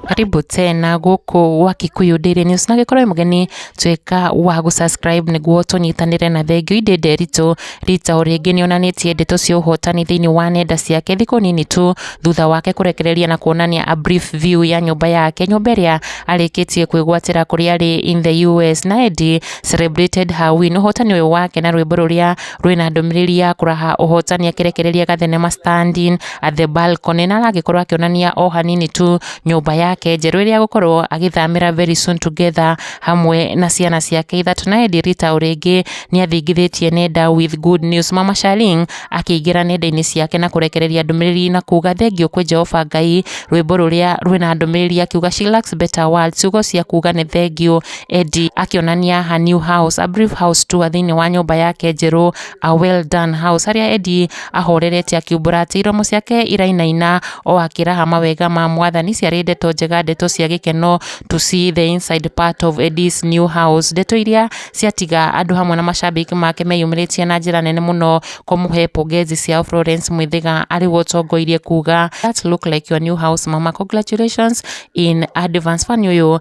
karibu tena gũkũ gwa Kikuyu Daily News na gĩkorwo mũgeni twĩka wa gũ subscribe nĩguo tũnyitanĩre na thengio indĩ nderitũ rita o rĩngĩ nĩ onanĩtie ndeto cia ũhotani thĩinĩ wa nenda ciake thikũ nini tu thutha wake kũrekereria na kuonania a brief view ya nyũmba yake nyũmba ĩrĩa arĩkĩtie kwĩgwatĩra kũrĩa arĩ in the US na endi Celebrated Her Win, ũhotani ũyũ wake na rwĩmbo rũrĩa rwĩna ndũmĩrĩri ya kũraha ũhotani akĩrekereria gathenema Standing at the Balcony na aragĩkorwo akĩonania o hanini tu nyũmba yake njerũ ĩrĩa agũkorwo agĩthamĩra very soon together hamwe na ciana ciake ithatũ na Eddie Rita o rĩngĩ nĩ athingithĩtie nenda with good news Mama Sharing akĩingĩra nenda-inĩ ciake na kũrekereria ndũmĩrĩri na kuga thengiũ kwĩ Jehova Ngai rwĩmbo rũrĩa rwĩna ndũmĩrĩri akiuga she lacks better words ciugo cia kuga nĩ thengiũ Eddie akĩonania her new house, a brief house tour thĩinĩ wa nyũmba yake njerũ, a well done house, harĩa Eddie ahorerete akiumbũra atĩ iromo ciake irainaina o akĩraha mawega ma mwathani ciarĩ ndeto njega, ndeto cia gĩkeno to see the inside part of Eddie's new house, ndeto iria ciatiga andũ hamwe na macambĩki make meyumĩrĩtie na njĩra nene mũno kũmũhe pongezi ciao. Florence Mwĩthĩga arĩ we ũtongoirie kuuga that look like your new house mama, congratulations in advance. Fan ũyũ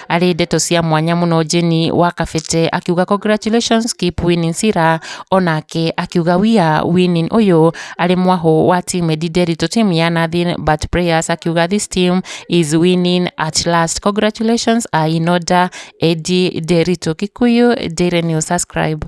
Arĩ ndeto cia mwanya mũno Jane wa Kabete akiuga congratulations keep winning Sira onake akiuga we are winning ũyũ arĩ mwahũ wa team Ndinderi to team ya nothing but prayers akiuga this team is winning at last congratulations are in order Eddie Nderitu Kikuyu Daily News subscribe